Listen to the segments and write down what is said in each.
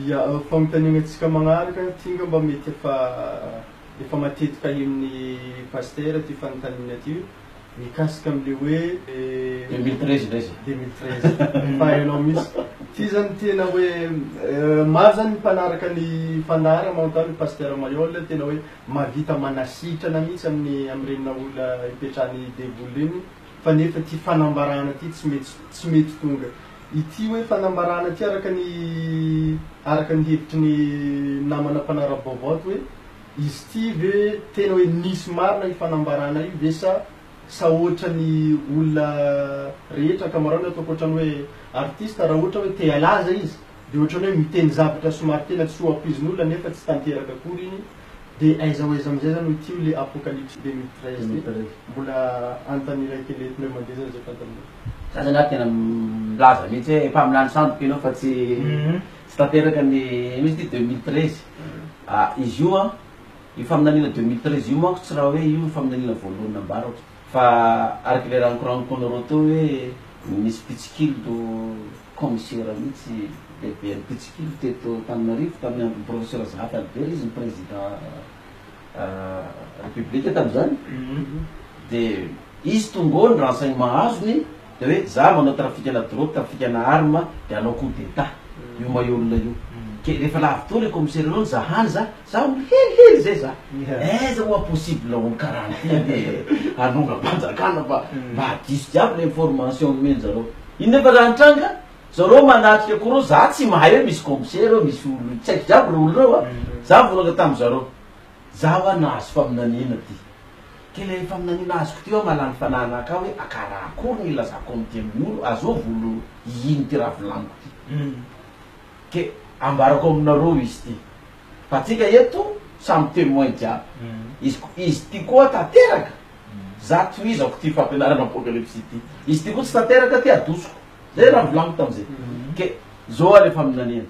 Ia, fanontaniana tsika magnaraka, ty nga mba mety efa efa matetika henon'ny Pasitera ty fanontaniana ty, mikasika am le hoe, deux mille treize ndray zay, deux mille treize fa hainao mintsy, ty zany tena hoe maro zany ny mpanaraka ny fandaharam manontany ny Pasitera Maihol tena hoe mahavita manasitrana mintsy am ny am reny nahola ipetrahan'ny devoly reny fa nefa ity fanambarana ity tsy mety tsy mety tonga ity hoe fanambarana ity araka ny araka ny hevitry ny namana mpanara-baovao ato hoe izy ity ve tena hoe nisy marina io fanambarana io ve sa sa ohatra ny olona rehetra ankamaroany ataoko ohatra ny hoe artista raha ohatra hoe te halaza izy Dia ohatran'ny hoe miteny zavatra somary tena tsy ho ampoizin'olona nefa tsy tanteraka akory iny, dia aiza ho aiza amin'izay izany hoe ity ilay Apocalypse deux mille treize ity? Mbola anontany iray kely eo, pneu mandeha izany izay fantan'olona. Za zany ary tena milaza mihitsy hoe efa amin'ilany sandoka ianao fa tsy tsy tanteraka ny ino izy ity deux mille treize ah izy io an io faminaniana deux mille treize io manko tsy raha hoe io faminaniana voalohany nambarako. Fa araka le rankorankony roa teo hoe misy mpitsikilo commissaire mihitsy lehiben'ny mpitsikilo teto Antananarivo tamin'ny andron'i professeur Zahat Albert izy no président république tamin'izany dia izy tonga ao ny renseignement azony Dia hoe za manao trafikana drogue, trafikana arme, dia anao coup d'etat. Io maillot-na io. Ke rehefa lavitoa le commissaire anao nizaha hany za, za olo helihely zay za. Aiza moa possible olo karaha ty anie hanongam-panjakana fa mba diso jiaby le information nomenjareo. Io nefa raha nitranga, zareo manatrika ko reo, za tsy mahay hoe misy commissaire eo, misy olo, tsy haiko jiaby reo olo reo a. Za mivolagna tamizareo. Za wa nahazo faminaniana ty. Ke le faminaniana azoko ty wa malany fanahy anaka aho hoe akara akory ny ilazako amity amin olo azo volo hihin ty raha volaniko ty. Ke ambarako aminareo izy ty. Fa tsika eto samy temoin jiaby. Izy ko izy ty koa tanteraka. Za tohizako ty fampianarana apocalypse ty. Izy ty koa tsy tanteraka ty adosoko. Zay raha volaniko tamizay. Ke zo wa le faminaniana.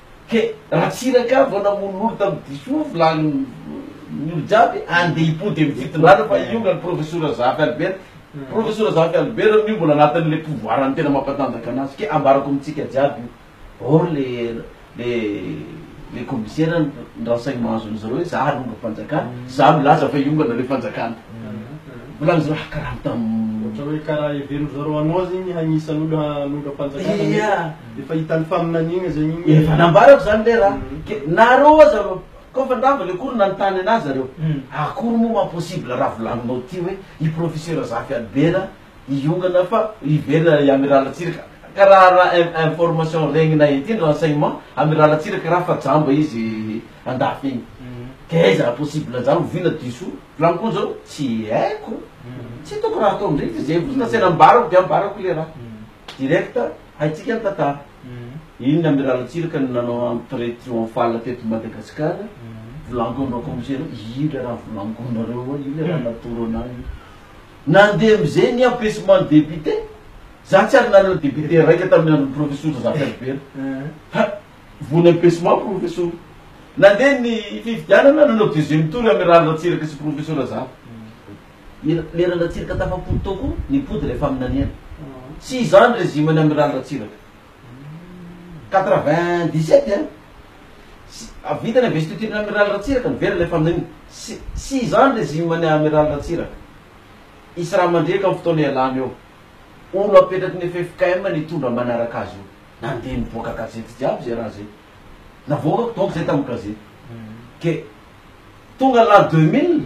Ke Ratsiraka vao namono lolo tam diso vilany ny olo jiaby ande hipody am fitondrana fa hiongany profesora Zafy Albert profesora Zafy Albert miombona anatiny le pouvoir ny tena mampatanjaka anazy ke ambarako amitsika jiaby io or le le le commissaire ndrasainy mahazo anizareo hoe za alonga fanjakana za milaza fa hiongana le fanjakana volany zareo ha karaha tam ohatra hoe karaha heverin zareo anao zegny hagnisany olo hanonga fanjakana mety Efa hitan'ny faminaniana zay mihitsy. Efa nambarako zany le ra. Ke nareo aza ro koa fa ndava le cours nanontany anazy zareo. Akory moa ma possible ra volaninao ty hoe i professeur Zafy Albert hiongana fa hiverina i Amiral Ratsiraka. Ka ra ra information regnina ety ny renseignement, Amiral Ratsiraka ra fa jamba izy andafy egny. Ke aiza ra possible zany oviana diso volagny koa zao tsy haiko. Tsy hitako ra atao ndreky zay vozona se nambarako de ambarako le ra. Direct. Haintsika ny tantara. Iny Amiral Ratsiraka no nanao entrée triomphale teto Madagasikara, volangonao kaomisera hoe io le raha volangonareo ao, io le raha natoro anah io. Nandeha amizay ny empêchement ny député, za tsy ary nanana député raika tamin'ny andron'i Professor Razafy Albert fa voan'ny empêchement Professor. Nandeha ny fifidianana nanao deuxième tour Amiral Ratsiraka sy Professor Razafy. Leran-dRatsiraka tafampody tao koa ny mpody ilay faminaniana. Tsy izany régime ny Amiraly Ratsiraka. Quatre vingt dix sept an! Sy vita ny investiture ny Amiraly Ratsiraka no very ilay faminaniana. Sy tsy izany régime ny Amiraly Ratsiraka. Hisy raha mandriaka amin'ny fotoana ialana eo. Olo apetraky ny ffkm ny hitondra manaraka azy io. Nandeha nivoaka gazety jiaby izay raha izay. Navoakako donc izay tamin'ny gazety. Ke tonga l'an deux mille.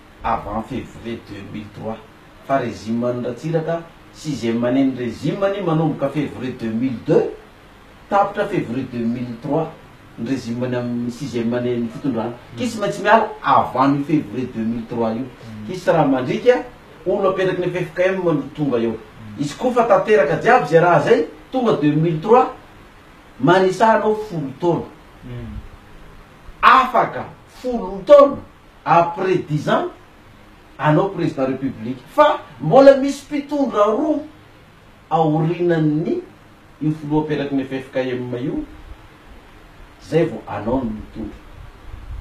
avant février deux mille trois fa régime an'i Ratsiraka sixième année ny régime anie manomboka février deux mille deux tapitra février deux mille trois ny régime ny amin'ny sixième année ny fitondrana ki sy maintsy miala avant io février deux mille trois io ki sy raha mandrika olo apetraky ny ffkm no tonga eo izy ko fa tanteraka jiaby zay raha zay tonga deux mille trois manisa anao folo taona afaka folo taona après dix ans anao président république fa mbola misy mpitondra roa aorinan'ny io filoha aperaky ny ffkm io zay vo anao no mitondra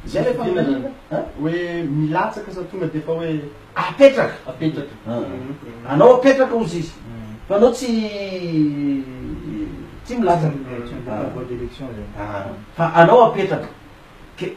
zay le fanontaniana a! Hoe milatsaka sa tonga de efa hoe apetraka? Apetraka a! Anao apetraka ozy izy fa anao tsy tsy milatsaka a! Fa anao apetraka ke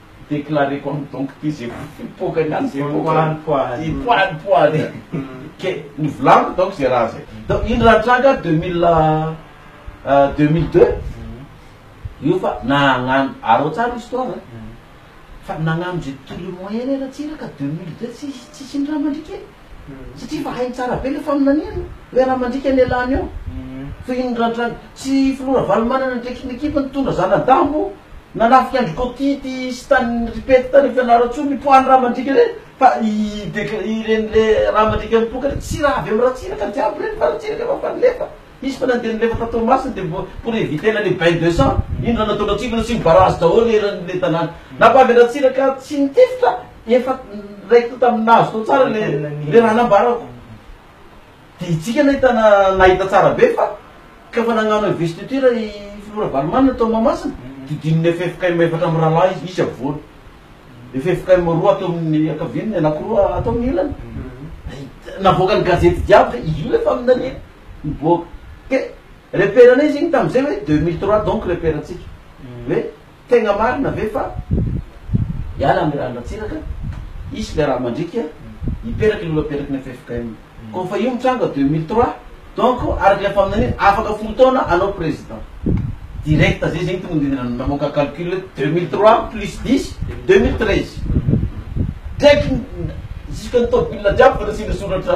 Déclaré comme donc toy izay ho fipoaka ny azy ireo poady poady poady poady ke ny volagny donc zay raha zay donc iny raha tranga deux mille deux mille deux io fa nagnano arao tsara histoire an fa nagnano zay tout le moyen raha tsy iraka deux mille deux tsisy tsisy ny raha mandritra e satria efa hainy tsara be ilay faminaniana hoe raha mandika ny elan eo tohin'ny randran tsy filoha ravalomanana ndraiky ny ekipa nitondra zanadambo nanafika andry kotity sy tany ripety tany fianarantsoa ny poids ny raha mandika ireny fa i dec ireny le raha mandika mipoka ireny tsy raha avy amin'ny ratsiraka jiaby ireny fa ratsiraka efa efa nilefa Izy fa na dia nilefa tao Toamasina dia mbola pour éviter l'année bain de sang iny rano nataon'ny antsipirany sy ny barrage daholo eran'ilay tanàna. Nampavy an'Ratsiraka tsy nitifitra efa raikitra tamin'ny nahazo tao tsara ilay ilay raha nambarako. Dia hitsiky nahitana nahita tsara be fa ka fa nagnano investiture i Filoha Ravalomanana tao Mahamasina dia hodininy ffkm efatra mirahalahy izy, misy afovoany. Ffkm roa ato amin'ny ankaviany, ny anankiroa ato amin'ny ilany. Navoakan'ny gazety jiaby hoe io ilay faminaniana. hiboaka. Dia repère anay izy iny tamin'izay hoe deux mille trois donc repère antsika. Hoe tegna marina ve fa hiala ny rà an-dRatsiraka, hisy ilay rà mandriaka, hiperaky ny olom-peraky ny ffkm. Koa fa io mitranga deux mille trois, donc araka ilay faminaniana, afaka folo taona anao président. Direct zay zegny tonga de namoaka calcul hoe deux mille trois plus dix de deux mille treize. Direct jusque ny tôbila jiaby efa nasiana soratra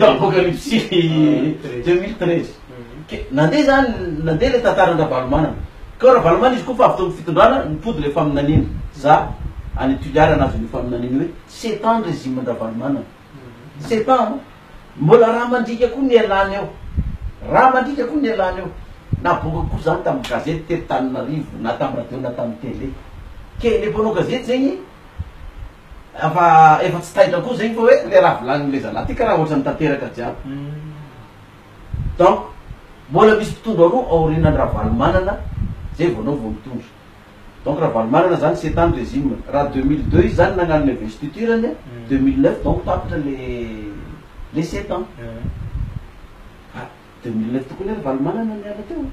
apocalypsy deux mille treize. Ke nandeha zany nandeha le tantaran-dRavalomanana. Ko Ravalomanana izy ko fa avy teo amin'ny fitondrana nipody le faminaniana. Za any Toliara nahazo an'io faminaniana io hoe sept ans ny régime an-dRavalomanana. C'est pas an! Mbola raha mandriaka koa no ialana eo. Raha mandriaka koa no ialana eo. Nabongako koa zany tamin'ny gazety teto Tananarivo na tamin'ny radio na tamin'ny télé. Ke le mpanao gazety zegny efa efa tsy taitra koa zegny fa hoe le raha volanin'le zalahy ty karaha ohatrany tanteraka jiaby. Donc mbola misy mpitondra roa aorianan'i Ravalomanana zay vao anao vao mitondra. donc Ravalomanana zany sept ans ny régime raha deux mille deux izy zany nagnano le investiture ny deux mille neuf donc tapitra le le sept ans fa deux mille neuf tokoa ny Ravalomanana niala teo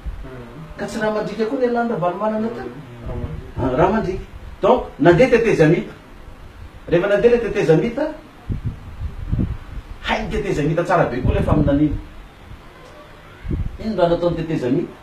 ka tsy Ramandrika koa nialan'i Ravalomanana teo Ramandrika donc nandeha tetezamita rehefa nandeha le tetezamita hay ny tetezamita tsara be koa le faminaniana ino raha nataony tetezamita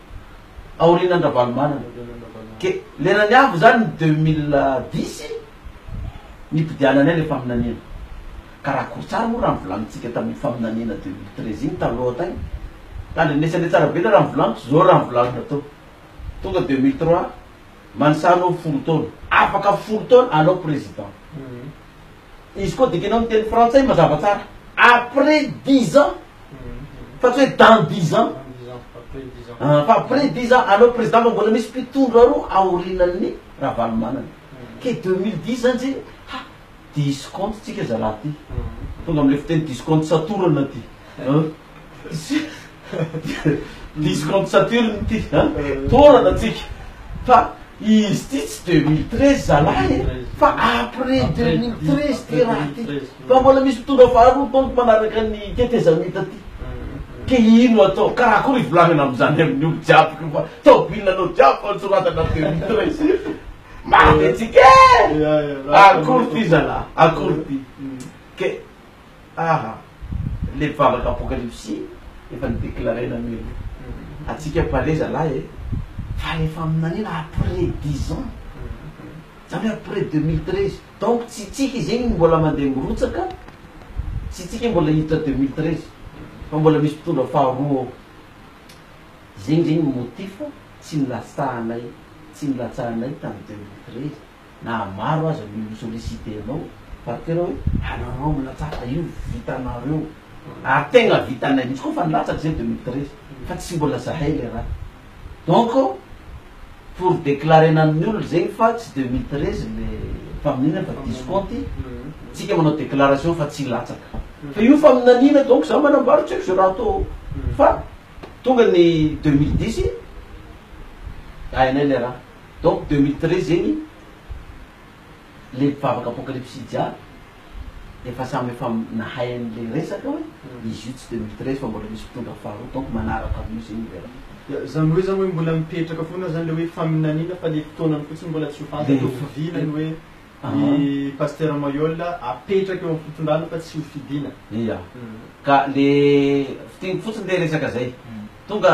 aorianan-dRavalomanana. Dia lerany avy izany ny deux mille dix nipidiananay ilay faminaniana. Ka raha akory tsara moa raha nivolanintsika tamin'iny faminaniana deux mille treize iny taloha hatay. Tandrenesandre tsara be ilay raha novolaniko, izao raha novolanina tao. Tonga deux mille trois, Mansa anao folo taona. Afaka folo taona anao président. Izy koa dikanao ny teny frantsay mazava tsara après dix ans fa tsy hoe dans dix ans ah, fa après dix ans anao président fa mbola misy mpitondra roa aorinan'ny Ravalomanana ke deux mille dix zany tsy ha diso compte tsika zalahy ty tonga amle fiteny diso compte satorana ty Diso compte Saturne ity an! Tôrana tsika fa izy ity tsy deux mille treize zalahy e! fa après deux mille treize ty raha ty fa mbola misy mitondra faharoa donc manaraka ny tetezamita ty ke ino atao? karaha akory ivolagnana amzany aminy olo jiaby ko fa tôbily anao jiaby fa nisoratana deux mille treize mafy atsika e! akory ty zalahy akory ty ke. Aha! Le vavaka apokalipsy efa ni declarena anio le atsika pare zalahy e! Fa efa aminanina après dix ans zany hoe après deux mille treize donc tsy tsika izy igny mbola mandeha mirotsaka tsy tsika mbola hiditra deux mille treize fa mbola misy mpitondra faharoa ao zegny zegny motif tsy nilatsahanay tsy nilatsahanay tam deux mille treize na maro aza ny olona solliciter anao par que hoe anareo milatsaka io vitanareo ary tegna vitanay mintsy koa fa nilatsaka zay deux mille treize fa tsy mbola zahay le raha donc pour declarena aminy olona zegny fa tsy deux mille treize le faminaniana fa diso compte tsika manao declaration fa tsy hilatsaka fa io faminaniana donc za manambara tsy haiko ze raha atao fa tonga ny deux mille dix hainay le raha. Donc deux mille treize zegny le mpivavaka apocalypsy jiaby efa samy efa nahay anle resaka hoe izy io tsy deux mille treize fa mbola misy mpitondra faharoa donc manaraka anio zegny le raha. Zany hoe zany hoe mbola mipetraka foana zany le hoe faminaniana fa le fotoanany fotsiny mbola tsy ho fantatra ho fidiana ny hoe ny Pasteur Maihol apetraka eo am fitondrana fa tsy ho fidiana. Ia. Ka le fidiny fotsiny le resaka zay. Tonga.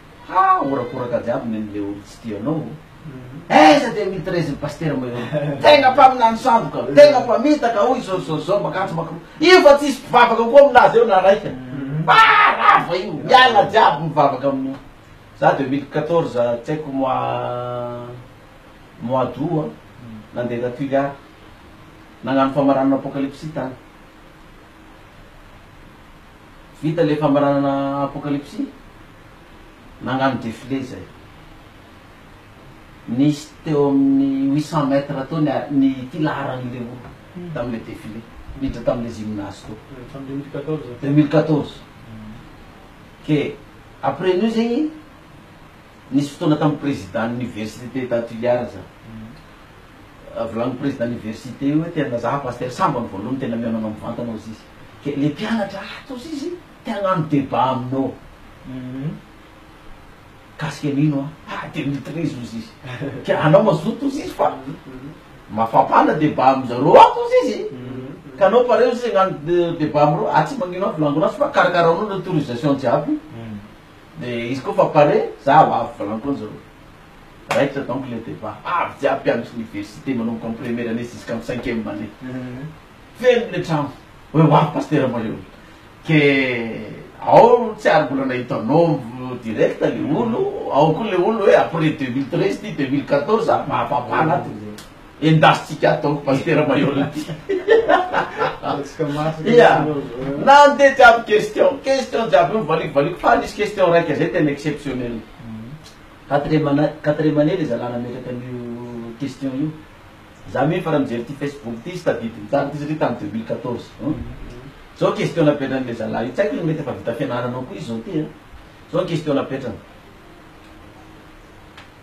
Ha horakoraka jiaby nen le olo tsy tia anao o. Aiza dia mety raisin pasitera mahery io. Tegna mpaminany sandoka, tegna mpamitaka hoy Zorzorzo makanjo makro. Io fa tsisy mpivavaka koa aminazy eo na raika. Ha rava io, miala jiaby mivavaka amin za 2014 tsy haiko mois mois d'aout a nande ta Tuléar nagnano famaranana apocalypsy tany. Vita le famaranana apokalipsy? Nangano defile zay. Nisy teo amin'ny huit cent mètres teo ny ny ity laharan'ny Léo tamin'ilay defile niditra tamin'ilay gymnase teo. Tamin'ny deux mille quatorze. Deux mille quatorze. Ke après an'io zegny nisy fotoana tamin'ny président université ta Tuliar za. Volagnin'ny président université io hoe te hanazaha pasteur sambany voalohany tena mihaona anao mivantana hozy izy. dia ilay mpianatra ato hozy izy te hagnano débat aminao mikasika an'ino an, ah dia mitirizy hozy izy ka anao mazoto hozy izy fa mafampana débat amin zareo ato hozy izy ka anao pare hozy izy hagnano débat aminareo atsy magnino an volangona fa karakaraonao ny autorisation jiaby dia izy koa fa pare za ho avy volangona zareo raikitra donc ilay débat avy jiaby mpianatry université manomboka am première année jusqu'am cinquième année Feno le trano hoe ho avy Pasitera Mahery ke ao tsy ary mbola nahita anao direct le olo ao koa le olo hoe après deux mille treize ty deux mille quatorze ary mahafampana ato endasintsika ato Pasitera Mahery ty ia nandeha jiaby question question jiaby io valiko valiko fa nisy question raika zay tena exceptionnel quatrième année quatrième année le zalahy nametraka an'io question io Za mi efa raha mijery ty Facebook ty izy tadidiny tamiko izy ry tam deux mille quatorze hum zao question napetrany le zalahy io tsy haiko izy mety efa vita fianarana ao koa izy zao ty a zao ny question napetrany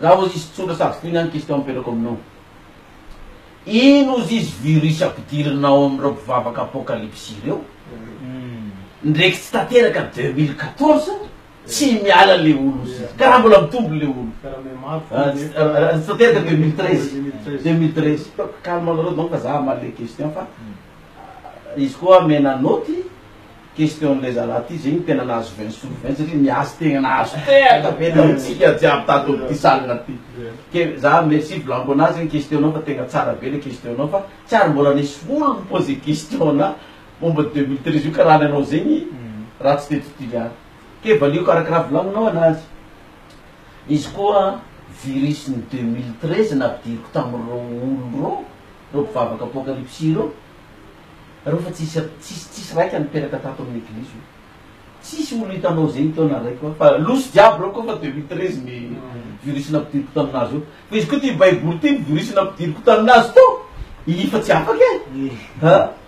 raha ozy izy tsotra sady fohy ihany question apetrako aminao ino ozy izy virus ampidirina ao amin'ireo mpivavaka apocalypse ireo ndreky tsy tanteraka deux mille quatorze Tsy miala le olo zy ka raha mbola mitombo le olo Stater deux mille treize deux mille treize calme anareo donc za hamaly le question fa izy koa mena note question le zalahy ty zegny tena nahazo vingt sur vingt satria niazo tegna nahazo tena be tamintsika jiaby tato amty salle ty ke za merci blanco nazy question nao fa tegna tsara be le question nao fa tsy ary mbola nisy olo ni-poser question ana Bombe deux mille treize io ka raha ny anao zegny raha tsy teto Toliara. Ke valiako araka raha volaninao anazy. Izy koa virus ny deux mille treize nampidiriko tamin'ireo olo reo, reo mpivavaka apocalypsy ireo, reo fa tsisy tsisy tsisy raika niteraka tato amin'ny eglizy io. Tsisy olo hitanao zegny teo na raiky koa fa loso jiaby reo koa fa deux mille treize ny virus nampidiriko taminazy eo. Fa izy koa ty baiboly ty ny virus nampidiriko taminazy teo, iifa tsy afaka e!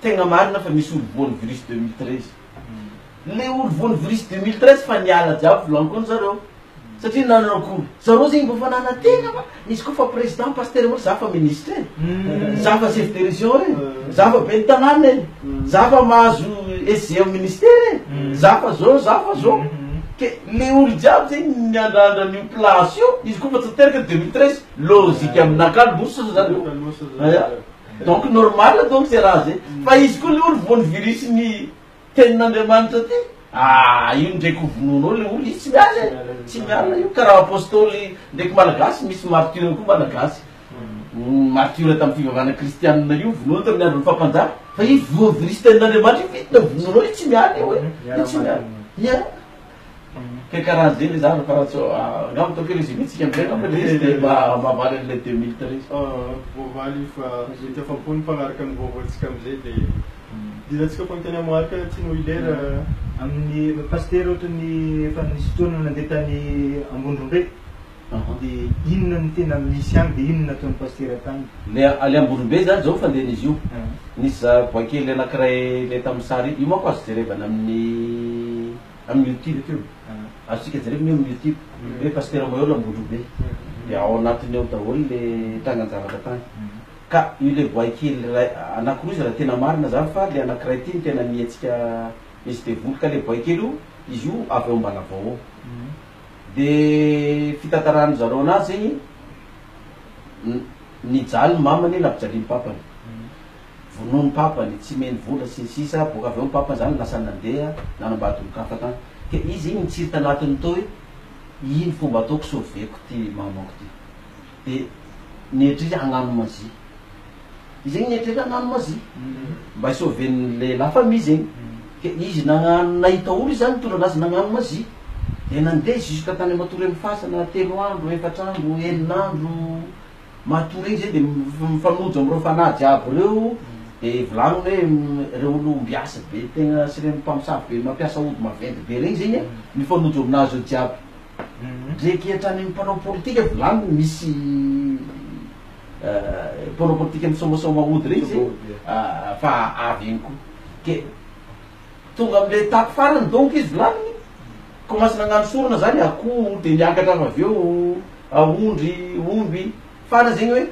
Tegna marina fa misy olo voan'ny virus deux mille treize. Le olo voan'ny virus deux mille treize fa niala jiaby volankony zareo. Satria nanao akory? Zareo zegny mbô fa nanategna fa izy koa fa président pasteur mô za fa ministre e. Za fa chef de région e. Za fa ben'ny tanàna e. Za fa mahazo SG am ministera e. Za fa zô, za fa zô. Ke le olo jiaby zegny miandrandra an'io place io, izy koa fa tsy teraka deux mille treize. Logique aminakahy losa zareo. Aya. Donc normal donc ze raha ze. Fa izy koa le olo voan'ny virus ny tenin'Andriamanitra ty. Aah io ndreky ho vonoinao le olo io tsy miala e. Tsy miala io. Karaha apostoly ndreky malagasy misy martyr koa malagasy. Martyr tamin'ny fivavahana kristianina io vonoiny tamin'ny andron'ny fapanjaka. Fa io voa virus tenin'Andriamanitra io vitanao vonoinao io tsy miala io e. Io tsy miala. Miala. Ka karaha ze le zava fa tsy angamba ataoko hoe résumé tsika amizay angamba le izy de mba mahavaly anle deux mille treize. Voavaly io fa mety afa-po ny mpanaraka ny vaovao tsika amizay de dila tsika fa miteny amharika aty no hilera. Amin'ny pasitera ohatran'ny efa nisy fotoana nandeha tany Ambondrombe. De inona no tena misy any de inona no nataon'i Pasitera tany? Le ale Amborombe zany zao fandehany izy io. Nisy za bois kely anakiray le tamin'ny sary iny. Io manko azo jerevana amin'ny amin'ny youtube io. Azontsika jerevana io amin'ny youtube hoe Pasitera Moeol Ambondrobe. De ao anatiny ao daholo le trangan-javatra tany. Ka io le bois kely iray anakiroa izy raha tena marina zany fa le anakiray ty no tena ny hetsika misy devoly. Ka le bois kely io izy io avy ao Ambalavao ao. De fitantaran zareo anazy zegny nijaly ny mamany nampijaliany papany vonoy ny papany tsy mey ny vola sy ny sisa boka avy eo ny papany zany lasa nandeha nanambady olonkafa tany ke izy igny nitsiry tanatiny toy ino fomba ataoko soveko ty mamako ty Dia nieritreritra hagnano magie. Izy zegny nieritreritra hagnano magie mba hi sauver ny le la famille zegny. Ke izy nagnano nahita olo izy zany nitondra anazy nagnano magie. Dia nandeha jusqu'à tany matoa reny fasana telo andro, efatra andro, enina andro, matoa regny zay dia mi- mifanojo amin'ireo fanahy jiaby ireo. Dia volagniny hoe ireo olo ombiasy be tegna sy ireny mpamosavy be mampiasa ody maventy be regny zegny mifanojo aminazy eo jiaby. Mireketra ny mpanao politika vilany misy mpanao politika misaomasaoma hody ireny zay fa avy eny koa ke tonga amle tato farany donc izy vilaniny ko masy nagnano sorona zany akoho de niakatra fa avy eo aondry omby fara zegny hoe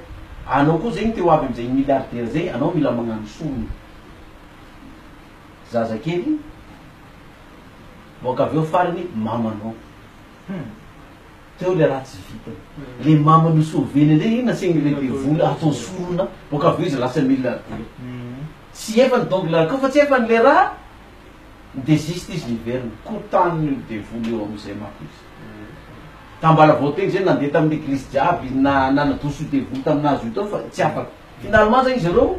anao koa zegny te ho avy amzay milliardaire zay anao mila magnano sorona zazakely Boaka avy eo farany mamanao hum teo ilay raha tsy vitany le mamanao sy oveny indray iny nasain'ny lehibe vola atao sorona boaka avy eo izy lasa mila vola tsy efany donc la koa fa tsy efany le raha de zista izy niverina koa tany io devoly eo amizay mako izy tambalavaoteny zay nandeha tamin'ny eglizy jiaby na nanadoso io devoly taminazy io tao fa tsy afaka finalement zany izy ireo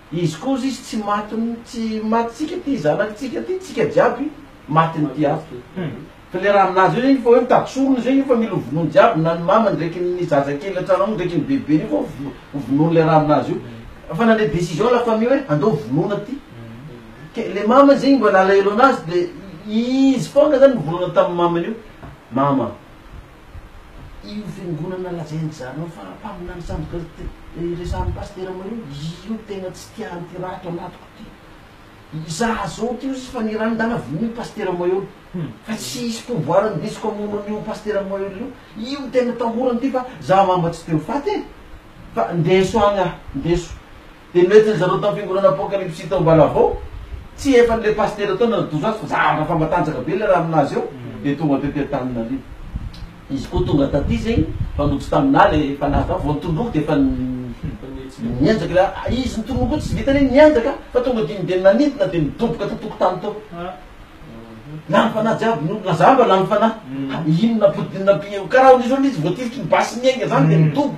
Izy koza izy tsy matiny tsy matintsika ty zanaky tsika ty tsika jiaby matiny ty avy ky fa le raha aminazy eo zegny fa hoe mitady sorona zegny io fa mila hovonoiny jiaby na ny mamany ndreky ny zaza kely antrano ao ndreky ny bebeny io fa hovonoiny le raha aminazy io fa nandre decision la famille hoe andao vonoina ty ke le mamany zegny mbola alahelo anazy de izy fôgna zany nivolagna taminy mamany io mama io fiangonana lazain dry zareo fa mpaminany sandoka resahan'ny pasitera mareo io tena tsy tiany ty raha ato anatiko ty izaho zao ty ozy fa ny raha nandala vola io pasitera maheul fa tsy hisy pouvoir indesiko hamono an'io pasitera maheul io io tena tahorany ty fa za mamba tsy te ho faty e fa ndeso any aho ndeso Dia noentin-dry zareo tamin'ny fiangonana Apokalipsy tao Ambalavao. Tsy efa an'ilay pasitera tao no nanatozo azy fa zavatra efa matanjaka be ilay raha amin'azy eo dia tonga tety Antananarivo. Izy koa tonga taty zegny fa nody taminà ilay fanahy fa vao nitondroky dia efa nihenjaka ilay a. Izy nitondroky koa tsy vitan'iny nihenjaka fa tonga dimy dia nanidina dia nidoboka tato an-tokotany tao. Lany fanahy jiaby ny olona. Zà mba lany fanahy. Inona? Ampodianina am-pia. Karaha amin'izao ilay izy voatifitry ny basy niainga zany dia midoboka.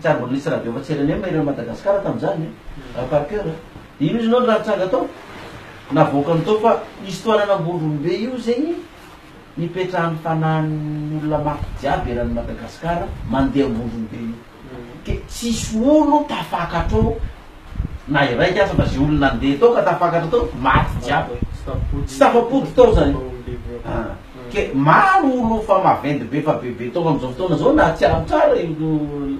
Tsy ary mbola nisy radio afa-tsy rnm ery Madagascar tamin'izany raha par coeur a! Dia ino izy nao no raha nitranga tao? Navoakany tao fa histoire an'Ambondrombe io zegny nipetrahan'ny fanahin'ny olona mafy jiaby eran'i Madagascar mandeha Ambondrombe io. Ke tsisy olo tafakatra ao. Na iraika aza na ze olona ndeha tao ka tafakatra tao maty jiaby tsy tafapody tao zany ah ke maro olo fa maventy be fa bebe tao amizao fotoana zao na tsiarotsara io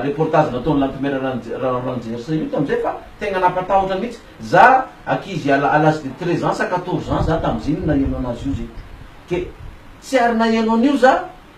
reportage nataony lantimera ranjersa io tamizay fa tegna nampatahotra mitsy za ankizy à l'age de treize ans sa quatorze ans za tamizegny naheno anazy io zegny ke tsy ary naheno anio za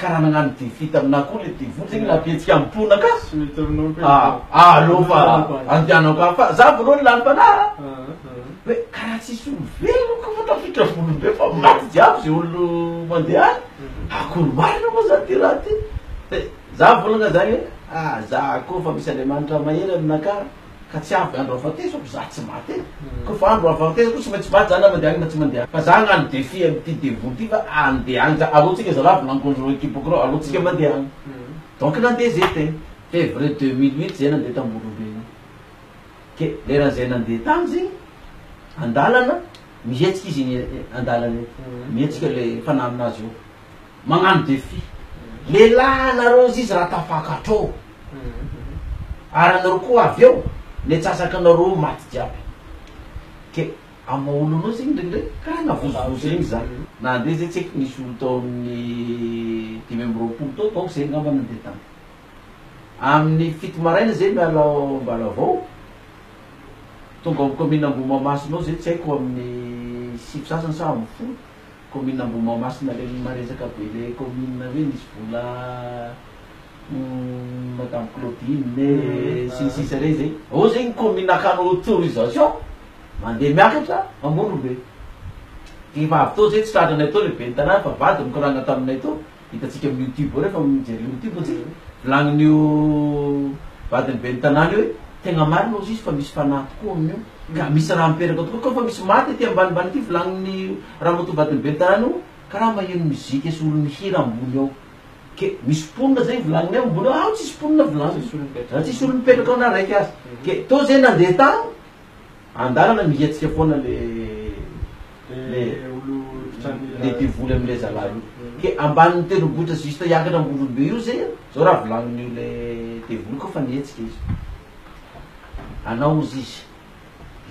Ka raha nagnano devis taminah koa le devoly zegny nampihetsika ampoina ka! Tsy mety aminao koa izy e! Ah allo fa andehanako any fa za voalohany lalim-panahy a! Hoe ka raha tsisy olo velona koa fa tafiditra voly be fa maty jiaby ze olo mandeha any, akory marina moa zany ty raha ty? Dia za volagna zany hoe ah za koa fa misy Andriamanitra mahery aminakahy. Ka tsy avy andro avanteso ako za tsy maty e! Ko fa andro avanteso ko tsy maintsy maty za na mandeha agny na tsy mandeha Fa za agnano defi amty devoly ty fa andeha agny za Alou tsika zalahy volagny conjoint kiboko reo alou tsika mandeha agny Donc nandeha zay tena Février deux mille huit zay nandeha tamborombe igny Ke leran zay nandeha tagny zegny andalana mihetsika izy igny andalana igny mihetsika le fanahy aminazy eo magnano defi lelah anareo azizy raha tafakatrao ary anareo koa avy eo ny atsasakanareo maty jiaby ke amin'ny maha olona anao zegny ndregny ndregny karaha navozovozo regny za na nde zay tsy aiko nisy olo tao amin'ny dimy amby roapolo tao donc zay ngamba nandeha tany amin'ny fito maraina zay miala ao Ambalavao tonga ao amin'ny commune Ambohimahamasina ao zay tsy aiko amin'ny sivy sasany sa amin'ny folo Commune Ambohimahamasina reny maresaka be le commune hoe nisy vola madame Claudine sy ny sisa reny zay oh zay ny commune akano autorisation mandeha miakatra Amorombe efa avy teo zay tsy tratranay teo le ben'ny tanàna fa vady nikoragna taminay teo Hitantsika amin'ny youtube ao rehefa mijery youtube moa tsika, volanin'io vadin'ny ben'ny tanàna io hoe tegna marina ozy izy fa misy fanahy tokoa amin'io ka misy raha mipetaka tokoa koa fa misy maty aty ambanimbany aty volanin'ny ramatoa vadin'ny ben'ny tanàna io karaha maheno mozika sy olo mihira ambony ao ke misy mponina zay volaninay ambony ao, ao tsisy mponina volaninay, raha tsisy olo mipetraka ao na raiky aza, ke tô zay nandeha tany Andalana mihiatsika foana le le le devoly amle zalahy io ke ambaniny tendrombohitra juste hiakatra ambondrombe io ze zao raha volaninio le devoly ko fa mietsika izy anao ozy izy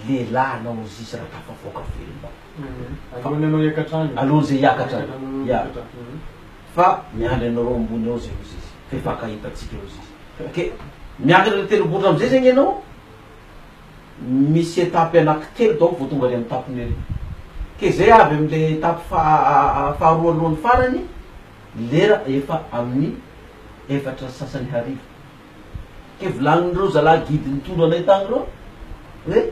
lehilahy anao ozy izy raha tafavoaka velona alohany anao hiakatra any alohany ze hiakatra any ya fa miandry anareo ambony ao ze ozy izy fe mpakahita atsika ozy izy ke miakatra le tendrombohitra amze zegny anao misy étape anaky telo donc vao tonga any amin'ny tape mairie. Ke zay avy amin'ilay étape faharoa alohan'ny farany, lera efa amin'ny efatra sy sasany hariva. Ke volanin'ireo zalahy guide nitondra anay tany ireo hoe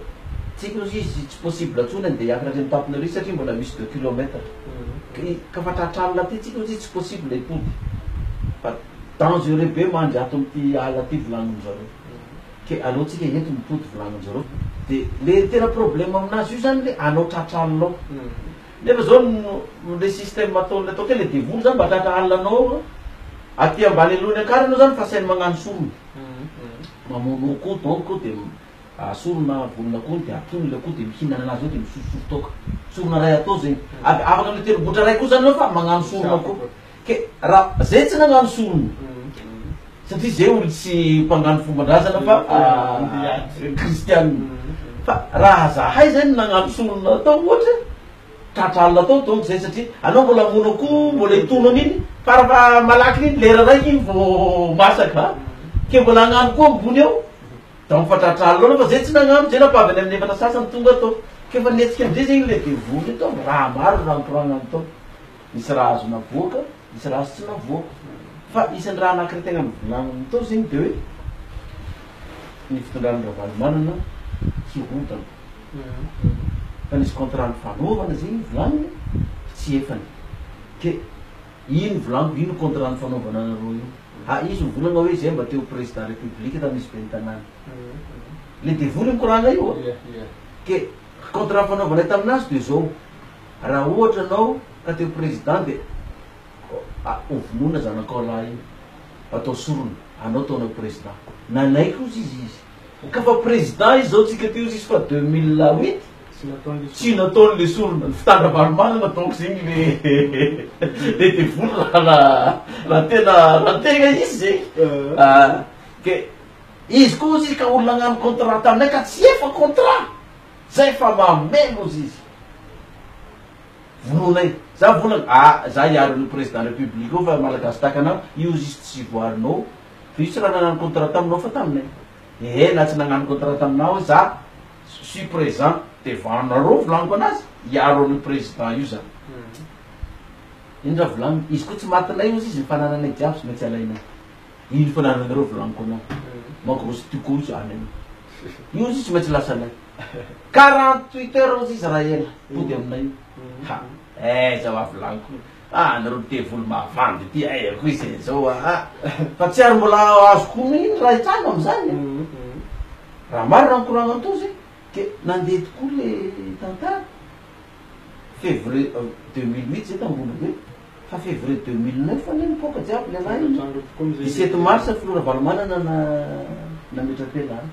tsy haiko izy tsy tsy possible intsony andeha hiankina aty amin'ny tape mairie satria mbola misy deux kilomètre. Ka fa tratra alina aty tsika hoy izy tsy possible hipody fa dangereux be mandry ato amin'ity ala ity volanin-dry zareo. ke aleo tsika eto mitody volaninjareo de le tena problème aminazy io zany le alao tratra alina ao nefa zao ny le système ataony atao ke le devoly zany mba tratra alina anao ao aloha aty ambany alohan'ny akarany eo zany fa sainy magnano sorona mamono akoho donc de sorona volon'akoho de atony le akoho de mihinana anazy eo de misosososo toaka sorona ray atao zegny avy afaka miteribotra ray koa zany anao fa magnano sorona koa Ke ra zay tsy nagnano sorona satria zay olo tsy mpangano fombandrazana fa kristianina fa raha zahay zay no nagnano sorona tao ohatra tratra alina tao donc zay satria anao mbola hamono akoho mbola hitono an'iny fara fa malaky iny lera raiky iny vo masaka a ke mbola hagnano koa ambony ao donc fa tratra alina anao fa zay tsy nagnano zay napaby any amin'ny efatra sasany tonga tao ke fa nihetsika amizay zay iny le devoly iny tao raha maro raha nikoragnany tao Misy raha azo navoaka, misy raha azo tsy navoaka. Fa isan'ny raha anankiray tena novolaniny tao zegny de hoe ny fitondran'i Ravalomanana hirodana. Fa nisy contrat nifanaovana zegny novolaniny fa tsy efany. Ke ino volaniko, ino contrat nifanaovana anareo io? Ha izy mivolagna hoe zay mba te ho président république tamin'ny izy ben'ny tanàna. Le devoly mikoragna io ô. Ke contrat nifanaovanay taminazy de zao. Raha ohatra ianao ka te ho président dia ho vonoina zanakao lahy io, atao sorona, anao ataonao ho président. Nanaiky hozy izy izy. Ka fa président izy zao tsika teo izy fa deux mille huit tsy nataony le sorona. Ny fitandra valomanana donc zegny le le devoly raha raha tena raha tegna izy zegny a. Ke izy koa hozy izy ka olo nagnano contrat taminay ka tsy efa contrat Zay fa mameno ozy izy. Vonoina iny. Za volana ah za hiaro an'io président république io fa malagasy tahaka anao io ozy izy tsy voarinao fa io tsy raha nagnano contrat taminao fa taminay ehe na tsy nagnano contrat taminao aho za suis présent devant nareo volaniko anazy hiaro an'io président io za iny raha volaniny izy koa tsy matinay ozy izy ny fanananay jiaby tsy maintsy alainay Ino fanananareo volaniko anao magrosse tu couche any anao io izy tsy maintsy lasanay quarante huit heures ozy izy raha ela hody aminay io ha eh za wa volaniko ah anareo devoly mavandy ity eh akory izy eh zao wa ha fa tsy ary mbola azoko omena iny raha hitranga amizany eh raha marina ny koragnantozy ke nandeha tokoa le tantara fevrier deux mille huit zay tany Ambohilobe. Fa février deux mille neuf anie nipoaka jiaby lehilahy iny. Dix sept mars filoha Ravalomanana na nametra-pela ahy.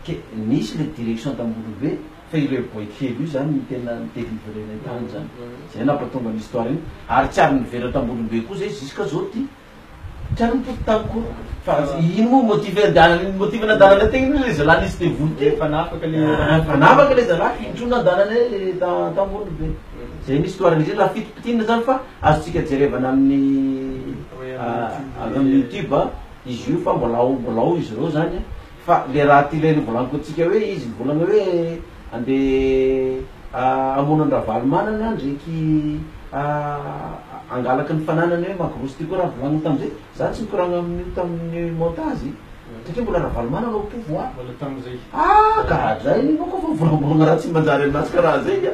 Ke nisy le direction tamboholobe fa ireo boay kely io zany no tena ni délivrer-nay tany zany. Zay napatonga ny histoire iny. Ary tsy ary nivela tamboholobe koa zay jusqu'à zao ty. Tena mitovy tamiko koa fa ino moa motive andehanany ny motive nandehananay teny iny le zalahy nisy devoly teo fanafaka le ah fanafaka le zalahy intro nandehananay le ta- Antanimbolybe zay misy histoire an'izy io na fito pitina zany fa azontsika jerevana amin'ny ah avy amin'ny youtube izy io fa mbola ao mbola ao izy reo zany. Fa le raha ty reny volaniko antsika hoe izy mivolagna hoe ande hamono an Ravalomanana ndreky hangalaka ny fananany hoe magrosy ty ko raha volagniny tamzay za tsy mikoragna aminio taminy montage satria mbola Ravalomanana au pouvoir ah gaga zany io manko fa volambolagna raha tsy manjary aminazy karaha zegny a.